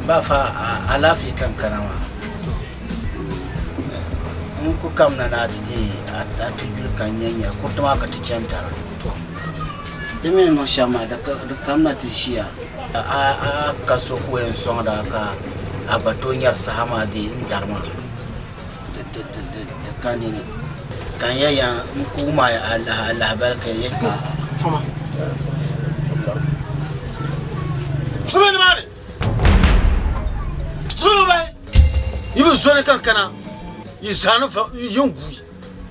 Ba fa alaafee ka n kana maa n ku kamina ni a ti deei a ti yuli ka n nya nya kuriti maa ka ti chani dara di mi ni niŋ shɛm maa di ka- di kamina ti ʒiya a a- a ka so ku yɛn sɔŋda ka a gba tooi nyari saha maa deei n dari maa Di ka nini, kanya ya n-kuug ma ya alaha alahabali ka ya kpe. Fama. So be nimaani? So be bahi? Yi bi zoli ka n kana, yi zaa ni va, yi yɛn guui.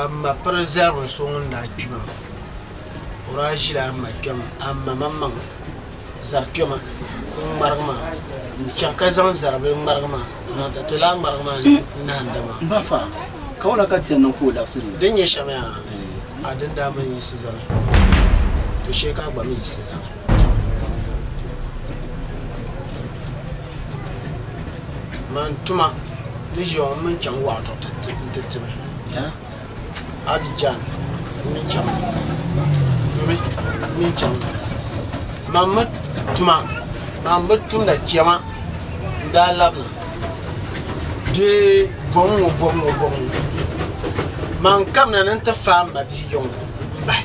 Amma piri zaligu n-so ŋun daa kpi maa. O daa ʒila Amma kpɛma Amma maŋmaŋ zari kpɛma n-ŋmarigi maa n-chaŋ ka zaŋ zari bila ŋmarigi maa n-zaŋ ti ti lala ŋmarigi maa ni nahinda maa. M ba fa, ka wula ka ti yɛn niŋ ka o labisi ni? Din nyɛ shɛm yaa, a dini daa mi n-yiɣisi zani, to shee ka a gba mi yiɣisi zani. man tuma ni ʒiya ŋɔ mini chaŋ waɣa zuɣu n ti tiba abijan n mii chɛŋ ŋɔ yuli n mii chɛŋ ŋɔ man mi tuma man mi tumda chɛma n daa labina bee boŋ ŋɔ boŋ ŋɔ man kabina ni n ti faai n mabia yiŋa n bahi